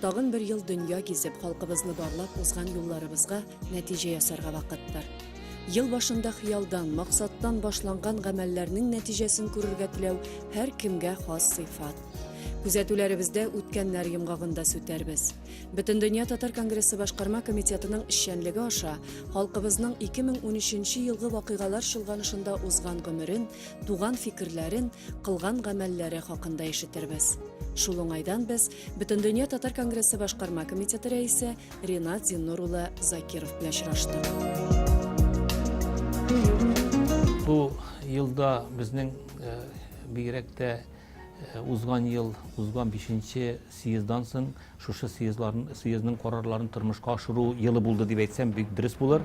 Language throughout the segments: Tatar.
Тагын бер ел дөнья гизеп, халкыбызны барлап узган юлларыбызга нәтиҗә ясарга вакыттыр. Ел башында хыялдан, максаттан башланган гамәлләрнең нәтиҗәсен күрергә теләү һәр кемгә хас сыйфат. Күзәтүләребездә үткәннәр йомгагында сүтәрбез. Бөтендөнья татар конгрессы башкарма комитетының эшчәнлеге аша халкыбызның 2013 елгы вакыйгалар чолганышында узган гомерен, туган фикерләрен, кылган гамәлләре хакында ишетербез. Шул уңайдан без Бөтендөнья татар конгрессы башкарма комитеты рәисе Ренат Зиннур улы Закиров белән очрашты. Бу елда безнең э, бигрәк тә Э, узган ел узган бишенче съездан соң шушы съезларын съездның карарларын тормышка ашыру елы булды дип әйтсәм бик дөрес булыр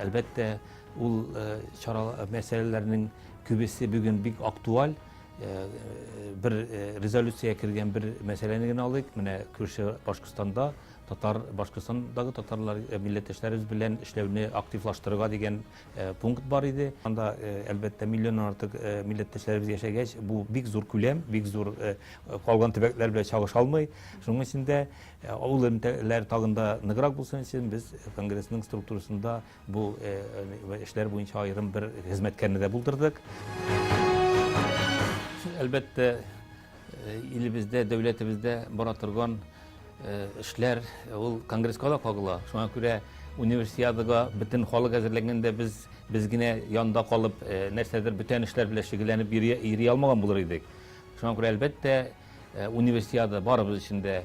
Әлбәттә, ул чара мәсьәләләрнең күбесе бүген бик актуаль. Бер резолюциягә кергән бер мәсьәләне генә алыйк. Менә күрше Башкортстанда Татар, Башкортстандагы татарлар милләттәшләребез белән эшләүне активлаштырырга дигән пункт бар иде. Анда, әлбәттә, миллионнан артык милләттәшләребез яшәгәч, бу бик зур күләм, бик зур, калган төбәкләр белән чагыша алмый. Шуның өчен дә, авыл элемтәләре тагын да ныграк булсын өчен, без конгрессның структурасында бу эшләр буенча аерым бер хезмәткәрне дә булдырдык. Әлбәттә, илебездә, дәүләтебездә бара торган, Э, эшләр э, ул конгресска да кагыла. Шуңа күрә универсиадага бөтен халык әзерләгәндә без без генә янда калып, э, нәрсәдер бүтән эшләр белән шөгыльләнеп йөри алмаган булыр идек. Шуңа күрә әлбәттә универсиада барыбыз өчен дә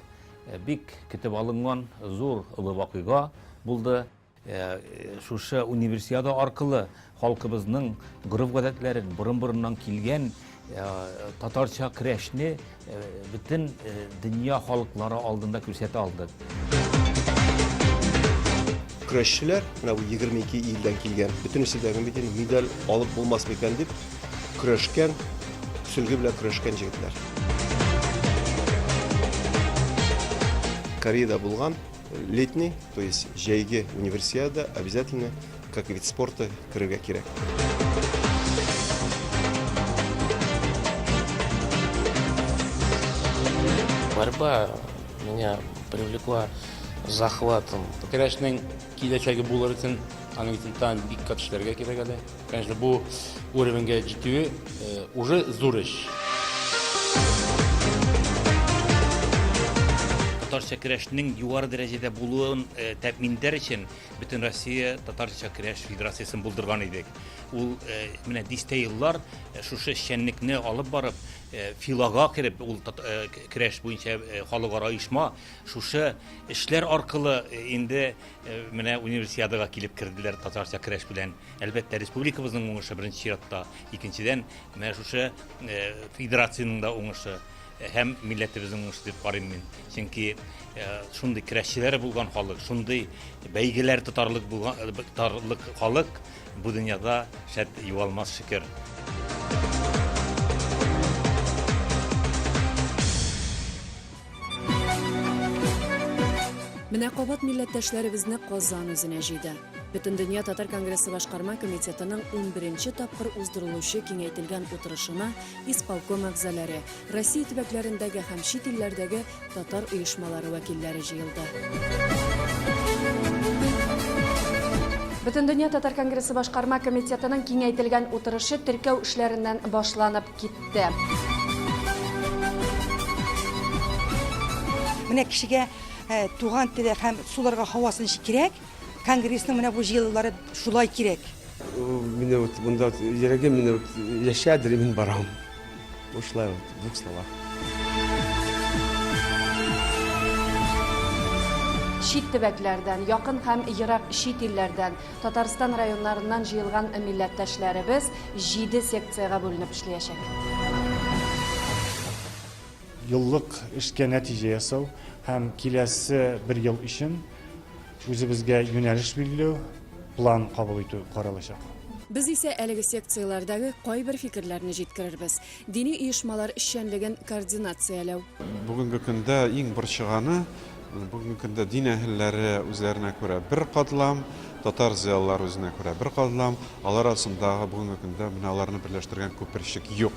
бик көтеп алынган зур олы вакыйга булды. Ә шушы универсиада аркылы халкыбызның гореф-гадәтләрен, борын-борыннан килгән татарча көрәшне бөтен дөнья халыклары алдында күрсәтә алдык. Көрәшчеләр, менә бу 22 илдән килгән, бөтенесе дә бит инде медаль алып булмас микән дип көрәшкән, сөлге белән көрәшкән җегетләр. Кореяда булган Летний, то есть җәйге универсиада обязательно как вид спорта керергә кирәк. Борьба меня привлекла захватом. Көрәшнең киләчәге булыр өчен аның өчен тагын бик күп эшләргә кирәк әле. Конечно, бу уровеньгә җитүе уже зур эш. Татарча көрәшнең югары дәрәҗәдә булуын тәэмин итәр өчен Бөтенроссия татарча көрәш федерациясен булдырган идек. Ул менә дистә еллар шушы эшчәнлекне алып барып, ФИЛАга кереп, ул көрәш буенча халыкара оешма, шушы эшләр аркылы инде Менә Универсиадага килеп керделәр татарча керәш белән. Әлбәттә, республикабызның уңышы беренче чиратта, икенчедән, менә шушы федерациянең дә уңышы һәм милләтебезнең уңышы дип карыйм мин. Чөнки шундый керәшчеләре булган халык, шундый бәйгеләр тотарлык булган тотарлык халык бу дөньяда шәт югалмас шөкер. Менә кабат милләттәшләребезне Казан үзенә җыйды. Бөтендөнья татар конгрессы башкарма комитетының 11 тапкыр уздырылучы киңәйтелгән утырышына исполком әгъзалары, Россия төбәкләрендәге һәм чит илләрдәге татар оешмалары вәкилләре җыелды. Бөтендөнья татар конгрессы башкарма комитетының киңәйтелгән утырышы теркәү эшләреннән башланып, Китте. Менә кешегә туган теле һәм суларга һавасы ничек кирәк, конгрессның менә бу җыелулары шулай кирәк. Менә вот монда йөрәгем менә вот яшәдер, мин барам. Бушлай вот двух словах. Чит төбәкләрдән, якын һәм ерак чит илләрдән Татарстан районнарыннан җыелган милләттәшләребез җиде секциягә бүленеп эшлиячәк. Еллык эшкә нәтиҗә ясау һәм киләсе бер ел өчен үзебезгә юнәлеш билгеләү, план кабул итү каралачак. Без исә әлеге секцияләрдәге кайбер фикерләрне җиткерербез. Дини оешмалар эшчәнлеген координацияләү. Бүгенге көндә иң борчыганы, бүгенге көндә дин әһелләре үзләренә күрә бер катлам, татар зыялылары үзенә күрә бер катлам, алар арасындагы бүгенге көндә менә аларны берләштергән күперчек юк.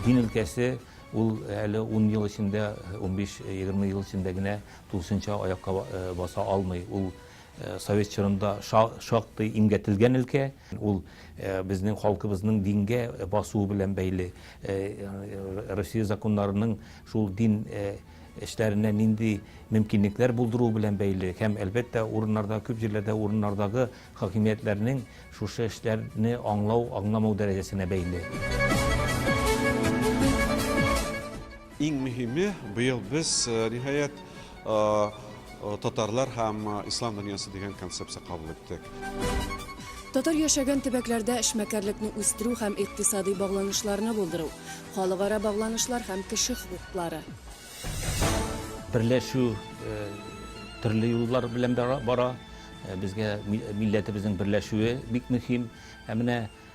Дин өлкәсе ул әле ун ел эчендә, унбиш, егерме ел эчендә генә тулысынча аякка баса алмый. Ул совет чорында шактый имгәтелгән өлкә. Ул безнең халкыбызның дингә басуы белән бәйле. Россия законнарының шул дин эшләренә нинди мөмкинлекләр булдыруы белән бәйле һәм, әлбәттә, урыннарда, күп җирләрдә урыннардагы хакимиятләрнең шушы эшләрне аңлау-аңламау дәрәҗәсенә бәйле. Иң мөһиме, быел без, ниһаять, татарлар һәм ислам дөньясы дигән концепция кабул иттек. Татар яшәгән төбәкләрдә эшмәкәрлекне үстерү һәм икътисадый багланышларны булдыру, халыкара багланышлар һәм кеше хокуклары. Берләшү э, төрле юллар белән бара. Э, безгә милләтебезнең берләшүе бик мөһим. Ә менә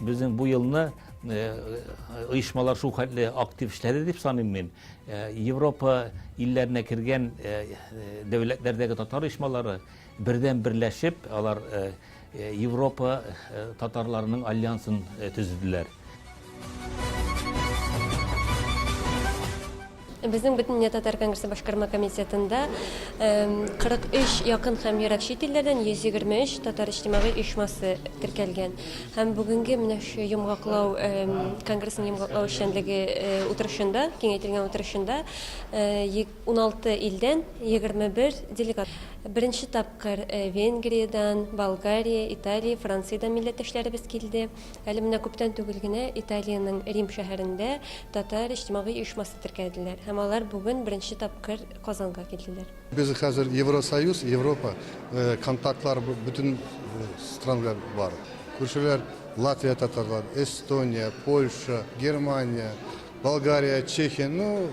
Безнең бу елны оешмалар шул хәтле актив эшләде дип саныйм мин. Европа илләренә кергән дәүләтләрдәге татар оешмалары Бердәм берләшеп, алар Европа татарларының альянсын төзеделәр. Безнең бөтендөнья татар конгрессы башкарма комитетында 43 якын һәм ерак чит илләрдән 123 татар иҗтимагый оешмасы теркәлгән. Һәм бүгенге менә шу йомгаклау конгрессның йомгаклау эшчәнлеге утырышында, киңәйтелгән утырышында Уналты илдән егерме бер делегат беренче тапкыр Венгриядән, Болгария, Италия, Франциядән милләттәшләребез килде. Әле менә күптән түгел генә Италиянең Рим шәһәрендә татар иҗтимагый оешмасы теркәделәр һәм алар бүген беренче тапкыр Казанга килделәр. Без хәзер Евросоюз, Европа, контактлар бөтен странада бар. Күршеләр Латвия татарлар, Эстония, Польша, Германия, Болгария, Чехия, ну,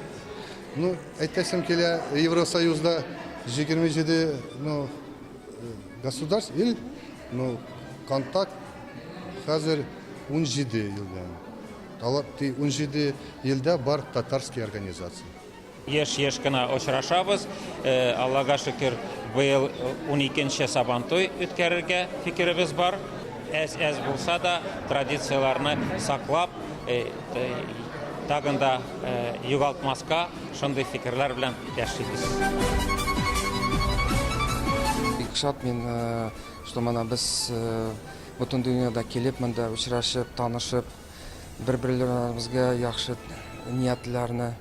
ну, әйтәсем килә, Евросоюзда 27, ну, государств, ил, ну, контакт хәзер 17 елдан. Алар 17 елда бар татарский организация. Еш-еш кына очрашабыз. Аллага шөкер, быел уникенче Сабантуй үткәрергә фикеребез бар. Әз-әз булса да, традицияләрне саклап, тагын да югалтмаска, шундый фикерләр белән яшибез. Бик шат мин, что менә без бөтен дөньяда килеп, монда очрашып, танышып, бер-берләребезгә яхшы ниятләрне,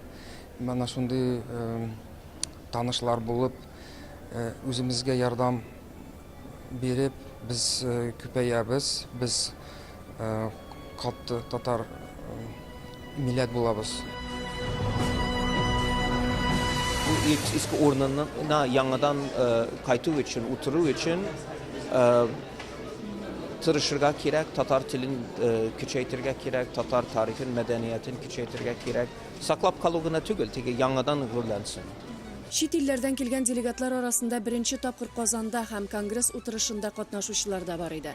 Менә шундый танышлар булып, үземезгә ярдәм биреп, без күпәябез, без катты татар милләт булабыз. Иске урынына яңадан кайту өчен, утыру өчен тырышырга кирәк, татар телен көчәйтергә кирәк, татар тарихын, мәдәниятен көчәйтергә кирәк. Саклап калу гына түгел, теге яңадан гөрләнсен. Чит илләрдән килгән делегатлар арасында беренче тапкыр Казанда һәм конгресс утырышында катнашучылар да бар иде.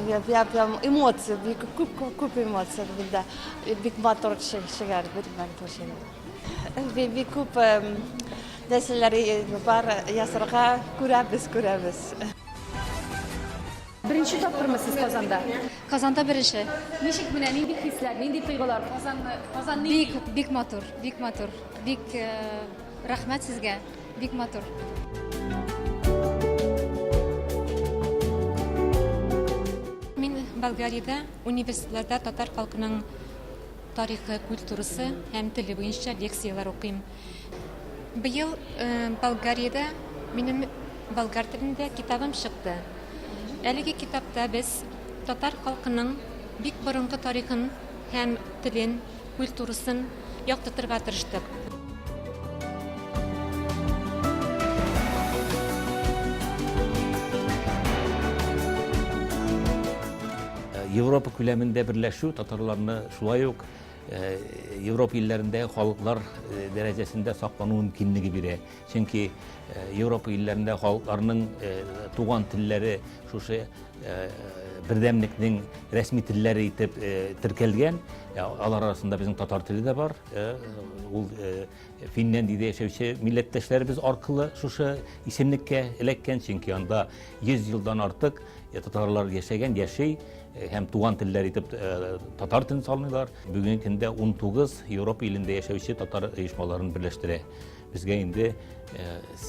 Я, я прям эмоции, бик күп күп күп эмоция булды. Бик матур шигәр, бик матур шигәр. Бик бик күп нәрсәләр бар ясарга күрәбез, күрәбез. Беренче тапкырмы сез Казанда? Казанда беренче. Ничек менә нинди хисләр, нинди тойгылар? Казанны, Казан ни? Бик, бик матур, бик матур. Бик э, рәхмәт сезгә. Бик матур. Мин Болгариядә университетларда татар халкының тарихы, культурасы һәм теле буенча лекцияләр укыйм. Быел Болгариядә минем болгар телендә китабым чыкты. Әлеге китапта без татар халкының бик борынгы тарихын һәм телен, культурасын яктыртырга тырыштык. Европа күләмендә берләшү татарларны шулай ук Европа илләрендә халыклар дәрәҗәсендә саклану мөмкинлеге бирә. Чөнки Европа илләрендә халыкларның туган телләре шушы бердәмлекнең рәсми телләре итеп теркәлгән. Алар арасында безнең татар теле дә бар. Ул Финляндиядә яшәүче милләттәшләребез аркылы шушы исемлеккә эләккән, чөнки анда 100 елдан артык татарлар яшәгән, яши. һәм туган телләр итеп татар телен салмыйлар. Бүгенге көндә 19 Европа илендә яшәүче татар оешмаларын берләштерә. Безгә инде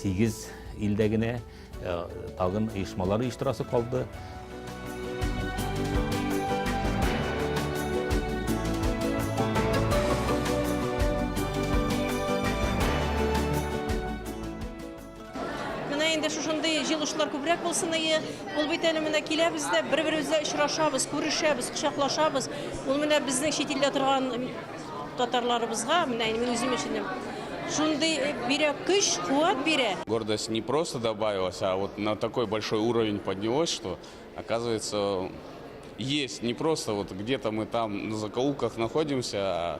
8 илдә генә тагын оешмалар оештырасы калды. Менә инде шушындый җылышлар күбрәк булсын ие. Ул бит әле менә киләбез дә, бер-беребезгә очрашабыз, күрешәбез, кочаклашабыз. Ул менә безнең чит илдә торган татарларыбызга, менә мин үзем өчен шундый э, бирә көч, куәт бирә. Гордость не просто добавилась, а вот на такой большой уровень поднялось, что, оказывается, есть не просто вот где-то мы там на закоулках находимся, а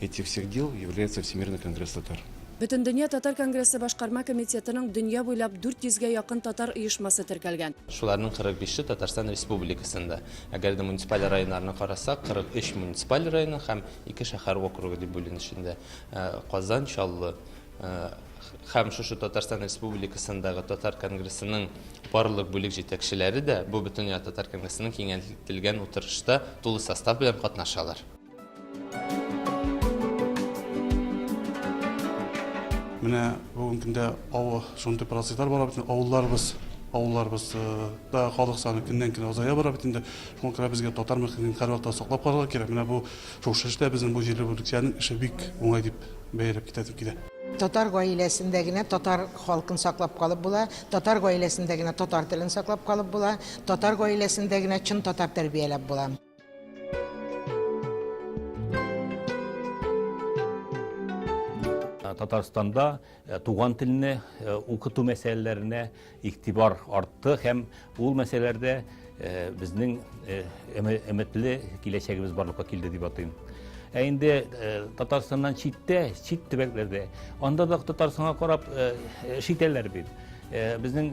Этих всех дел является Всемирный конгресс татар. Бөтендөнья татар конгрессы башкарма комитетының дөнья буйлап 400 гә якын татар оешмасы теркәлгән. Шуларның 45-е Татарстан Республикасында. Әгәр дә муниципаль районнарны карасак, 43 муниципаль районы һәм ике шәһәр округы дип бүленешендә. Э, Казан, Чаллы э, һәм шушы Татарстан Республикасындагы татар конгрессының барлык бүлек җитәкчеләре дә бу бөтенләй татар конгрессының киңәйтелгән утырышта тулы состав белән катнашалар. Менә бүгенге көндә авыл шундый процесслар бара бит, авылларыбыз авылларыбыз да халык саны көннән көн азая бара бит инде. Шуңа күрә безгә татар мөхитен һәрвакытта саклап калырга кирәк. Менә бу шушы эштә безнең бу җирле бүлекчәнең эше бик уңай дип бәяләп китәсем килә. Татар гаиләсендә генә татар халкын саклап калып була, татар гаиләсендә генә татар телен саклап калып була, татар гаиләсендә генә чын татар тәрбияләп була. Татарстанда э, туган телне э, укыту мәсьәләләренә игътибар артты һәм ул мәсьәләләрдә э, безнең өметле киләчәгебез барлыкка килде дип атыйм. Ә инде Татарстаннан читтә, чит төбәкләрдә, анда да Татарстанга карап эш итәләр бит. Безнең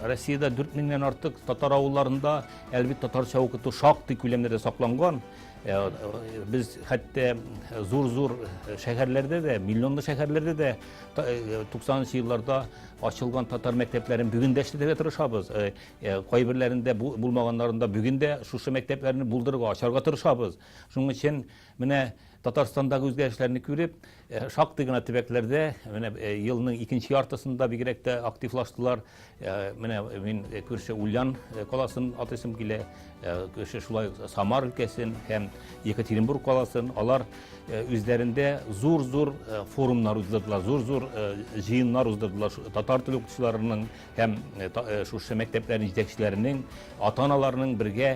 Россиядә 4000 меңнән артык татар авылларында Әлбит татарча укыту шактый күләмдә дә сакланган. Э, э, без хәтта э, зур-зур шәһәрләрдә дә, миллионлы шәһәрләрдә дә 90-нчы елларда ачылган татар мәктәпләрен бүген дә эшләтергә тырышабыз. Кайберләрендә булмаганнарында бүген дә шушы мәктәпләрне булдырырга, ачарга тырышабыз. Шуның өчен Менә Татарстандагы үзгәрешләрне күреп, шактый гына төбәкләрдә менә елның икенче яртысында бигрәк тә активлаштылар. Менә мин күрше Ульян каласын атыйсым килә, күрше шулай Самар өлкәсен һәм Екатеринбург каласын. Алар үзләрендә зур-зур форумнар уздырдылар, зур-зур җыеннар уздырдылар татар теле укытучыларының һәм шушы мәктәпләрнең җитәкчеләренең, ата-аналарның бергә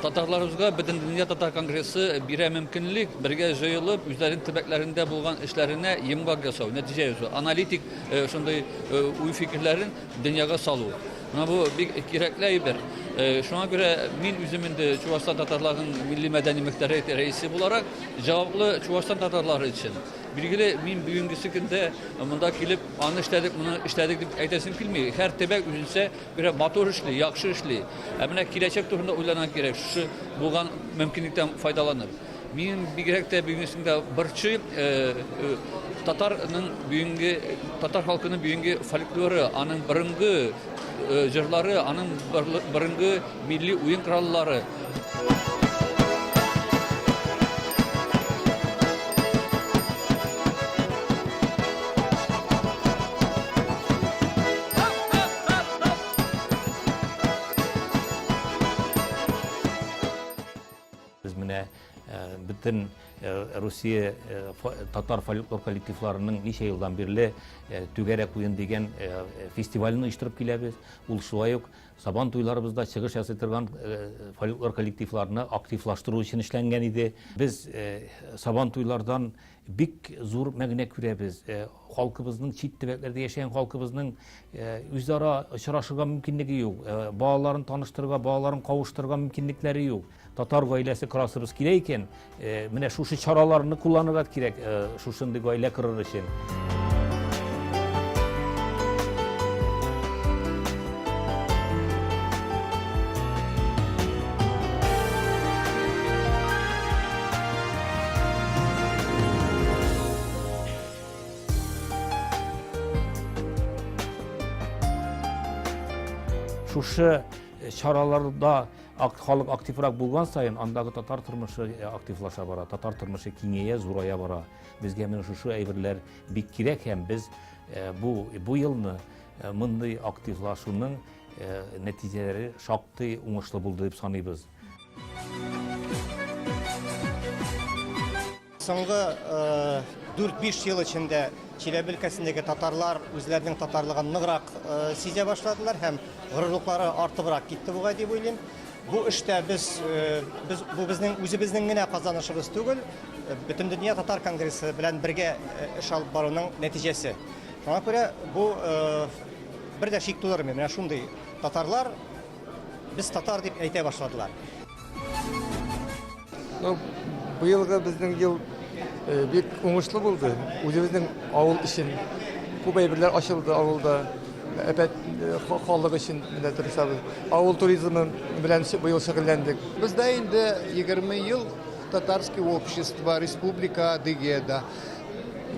Татарларыбызга Бөтендөнья татар конгрессы бирә мөмкинлек бергә җыелып, үзләренең төбәкләрендә булган эшләренә йомгак ясау, нәтиҗә ясау, аналитик шундый уй-фикерләрен дөньяга салу. Менә бу бик кирәкле әйбер. Шуңа күрә мин үзем инде Чувашстан татарларының милли-мәдәни мөхтәре рәисе буларак җаваплы Чувашстан татарлары өчен. Билгеле, мин бүгенгесе көндә монда килеп, аны эшләдек, моны эшләдек дип әйтәсем килми. Һәр төбәк үзенчә Бирә матур эшли, яхшы эшли. Ә менә киләчәк турында уйланырга кирәк, шушы булган мөмкинлектән файдаланып. Мин бигрәк тә бүгенге сында борчый э, э, татарның бүгенге татар халкының бүгенге фольклоры, аның борынгы э, җырлары, аның борынгы милли уен кораллары. Без менә бөтен Русия татар фольклор коллективларының ничә елдан бирле Түгәрәк уен дигән фестивален оештырып киләбез. Ул шулай ук Сабан туйларыбызда чыгыш ясый торган фольклор коллективларны активлаштыру өчен эшләнгән иде. Без Сабан туйлардан бик зур мәгънә күрәбез. Халкыбызның чит төбәкләрдә яшәгән халкыбызның үзара очрашырга мөмкинлеге юк. Балаларын таныштырырга, балаларын кавыштырырга мөмкинлекләре юк. Татар гаиләсе корасыбыз килә икән, э, менә шушы чараларны кулланырга кирәк, э, шушындый гаилә корыр өчен. Шушы э, чараларда Акт халык активрак булган саен, андагы татар тормышы э, активлаша бара, татар тормышы киңәя, зурая бара. Безгә менә шушы әйберләр бик кирәк һәм без э, бу бу елны э, мондый активлашуның нәтиҗәләре шактый уңышлы булды дип саныйбыз. Соңгы 4-5 ел эчендә Чиләбе өлкәсендәге татарлар үзләренең татарлыгын ныграк сизә башладылар һәм горурлыклары артыбрак китте бугай дип уйлыйм. Бу эштә без без бу безнең үзебезнең генә казанышыбыз түгел, Бөтендөнья татар конгрессы белән бергә эш алып баруның нәтиҗәсе. Шуңа күрә бу бер дә шик тудырмый. Менә шундый татарлар Без татар дип әйтә башладылар. Ну, быелгы безнең ел э, бик уңышлы булды. Үзебезнең авыл өчен күп әйберләр ачылды авылда. Әпәт э, ха- халык өчен менә тырышабыз. Авыл туризмы белән ши- быел шөгыльләндек. Бездә инде 20 ел татарский общество, республика Адыгеда.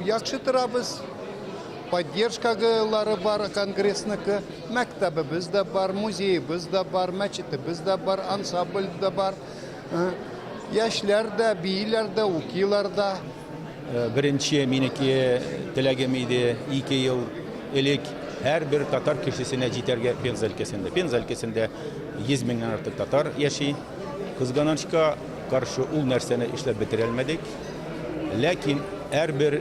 Яхшы торабыз. Поддержкалары бар конгрессныйкы, мәктәбебез дә бар, музеебыз да бар, мәчетебез дә бар, ансабль дә бар. Э, яшьләр дә, бииләр дә, укилар да. Э, беренче минеке теләгем иде, ике ел элек һәрбер татар кешесенә җитәргә Пенза өлкәсендә. Пенза өлкәсендә 100 меңнән артык татар яши. Кызганычка каршы ул нәрсәне эшләп бетерә алмадык. Ләкин һәрбер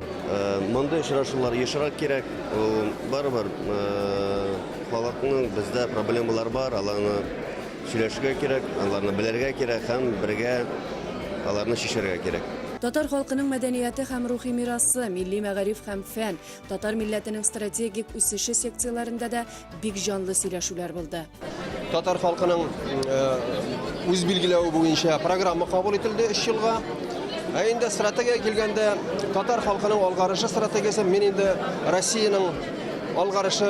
Мондый очрашулар ешрак кирәк. Ул барыбер халыкның бездә проблемалар бар, аларны сөйләшергә кирәк, аларны белергә кирәк һәм бергә аларны чишәргә кирәк. Татар халкының мәдәнияте һәм рухи мирасы, милли мәгариф һәм фән, татар милләтенең стратегик үсеше секцияләрендә дә бик җанлы сөйләшүләр булды. Татар халкының үз билгеләве буенча программа кабул ителде 3 елга. Ә инде стратегия килгәндә татар халкының алгарышы стратегиясен мин инде Россиянең алгарышы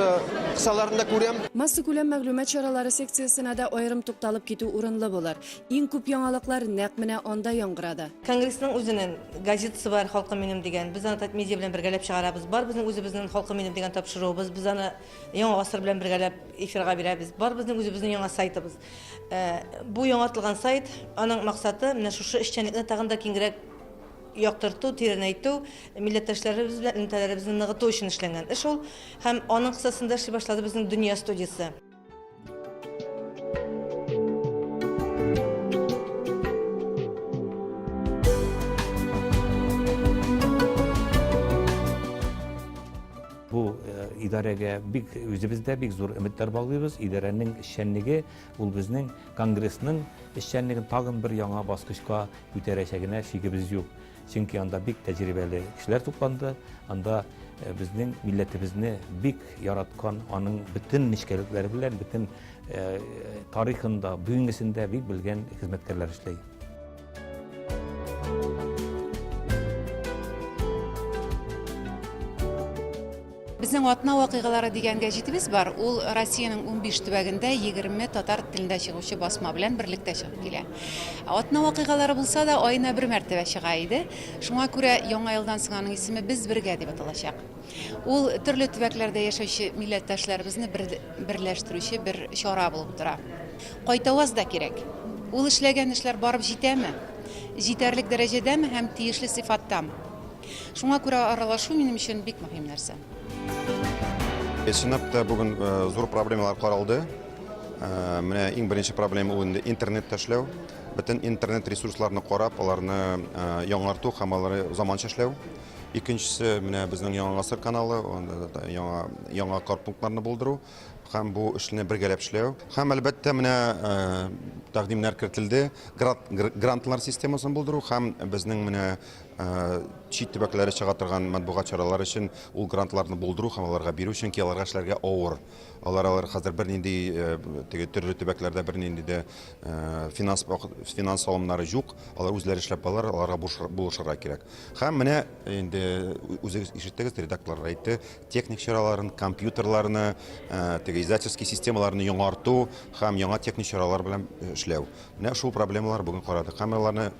кысаларында күрәм. Масса күләм мәгълүмат чаралары секциясенә дә аерым тукталып китү урынлы булыр. Иң күп яңалыклар нәкъ менә анда яңгырады. Конгрессның үзенен газетасы бар, Халкым минем дигән. Без аны Татмедиа белән бергәләп чыгарабыз. Бар безнең үзебезнен Халкым минем дигән тапшыруыбыз. Без аны Яңа гасыр белән бергәләп эфирга бирәбез. Бар безнең үзебезнен яңа сайтыбыз. Бу яңартылган сайт, аның максаты, менә шушы эшчәнлекне тагын да киңгерәк яктырту, тирәнәйтү, милләттәшләребез белән элемтәләребезне ныгыту өчен эшләнгән эш ул. Һәм аның кысасында эшли башлады безнең Дөнья студиясе. Бу э, идарәгә бик үзебез дә бик зур өметләр баглыйбыз. Идарәнең эшчәнлеге ул безнең конгрессның эшчәнлеген тагын бер яңа баскычка күтәрәчәгенә шигебез юк. Чөнки анда бик тәҗрибәле кешеләр тупланды. Анда э, безнең милләтебезне бик яраткан, аның бөтен нечкәлекләре белән, бөтен э, тарихында, бүгенгесендә бик белгән хезмәткәрләр эшли. Безнең атна вакыйгалары дигән гәҗитебез бар. Ул Россиянең унбиш төбәгендә егерме татар телендә чыгучы басма белән берлектә чыгып килә. Атна вакыйгалары булса да, аена бер мәртәбә чыга иде. Шуңа күрә Яңа елдан соң аның исеме Без бергә дип аталачак. Ул төрле төбәкләрдә яшәүче милләттәшләребезне бер берләштерүче бер чара булып тора. Кайтаваз да кирәк. Ул эшләгән эшләр барып җитәме? Җитәрлек дәрәҗәдәме һәм тиешле сыйфаттамы? Шуңа күрә аралашу минем өчен бик мөһим нәрсә. Синоптта бүген зур проблемалар каралды. Менә иң беренче проблема ул инде интернет эшләү. Бөтен интернет ресурсларны карап, аларны яңарту һәм алары заманча эшләү. Икенчесе менә безнең Яңа гасыр каналы, яңа яңа карпунктларны булдыру һәм бу эшне бергәләп эшләү. Һәм әлбәттә менә тәкъдимнәр кертелде, грантлар системасын булдыру һәм безнең менә чит төбәкләре чыга торган матбугат чаралары өчен ул грантларны булдыру һәм аларга бирү, чөнки аларга эшләргә авыр. Алар алар хәзер бернинди теге төрле төбәкләрдә бернинди дә финанс финанс салымнары юк. Алар үзләре эшләп алар, аларга булышырга кирәк. Һәм менә инде үзегез ишеттегез, редакторлар әйтте, техник чараларын, компьютерларны, теге издательский системаларны яңарту һәм яңа техник чаралар белән эшләү. Менә шул проблемалар бүген карадык. Һәм аларны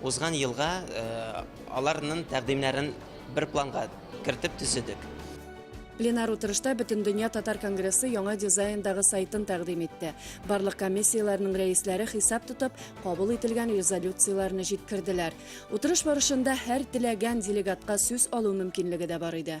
Узган елга аларнын тәкъдимнәрен бер планга кертеп төзедек. Пленар утырышта Бөтендөнья татар конгрессы яңа дизайндагы сайтын тәкъдим итте. Барлык комиссияләрнең рәисләре хисап тотып, кабул ителгән резолюцияләрне җиткерделәр. Утырыш барышында һәр теләгән делегатка сүз алу мөмкинлеге дә бар иде.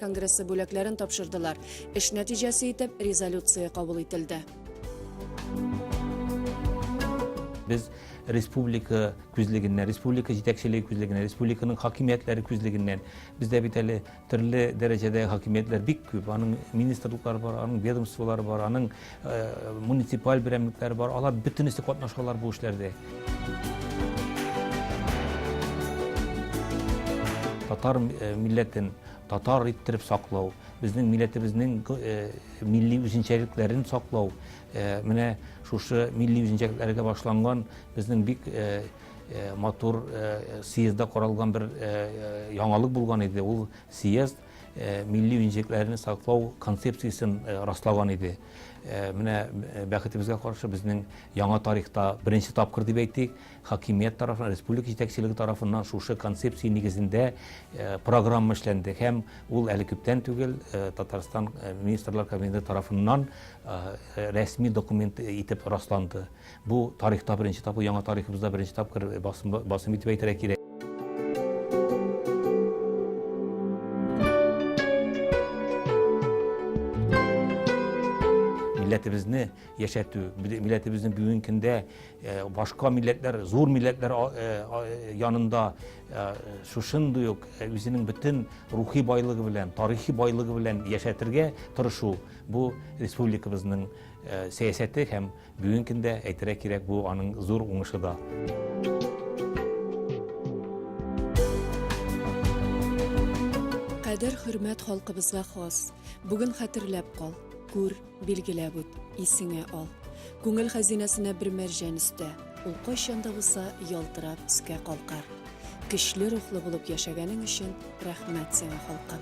конгрессы бүләкләрен тапшырдылар. Эш нәтиҗәсе итеп резолюция кабул ителде. Без республика күзлегеннән, республика җитәкчелеге күзлегеннән, республиканың хакимиятләре күзлегеннән. Бездә бит әле төрле дәрәҗәдә хакимиятләр бик күп. Аның министрлыклары бар, аның ведомстволары бар, аның э, муниципаль берәмлекләре бар. Алар бөтенесе катнашалар бу эшләрдә. Татар э, милләтен Татар иттереп саклау, безнең милләтебезнең милли үзенчәлекләрен саклау, менә шушы милли үзенчәлекләргә башланган безнең бик матур съездда каралган бер яңалык булган иде. Ул съезд милли үзенчәлекләрне саклау концепциясен раслаган иде. Менә бәхетебезгә каршы, безнең яңа тарихта беренче тапкыр дип әйтик, Хакимият тарафыннан, республика җитәкчелеге тарафыннан шушы концепция нигезендә программа эшләнде һәм ул әле күптән түгел Татарстан министрлар кабинеты тарафыннан рәсми документ итеп расланды. Бу тарихта беренче тапкыр, яңа тарихыбызда беренче тапкыр басым, басым итеп әйтергә кирәк. Милләтебезне яшәтү, милләтебезнең бүгенге көндә Э, башка милләтләр, зур милләтләр э, э, янында шушындый ук үзенең бөтен рухи байлыгы белән, тарихи байлыгы белән яшәтергә тырышу бу республикабызның сәясәте һәм бүгенге көндә әйтергә кирәк бу аның зур уңышы да. Кадер хөрмәт халкыбызга хас. Бүген хәтерләп кал, күр, Билгеләп үт, исеңә ал. Күңел хәзинәсенә бер мәрҗән өстә, ул кайчан да булса ялтырап өскә калкар. Көчле рухлы булып яшәгәнең өчен рәхмәт сиңа, халкым!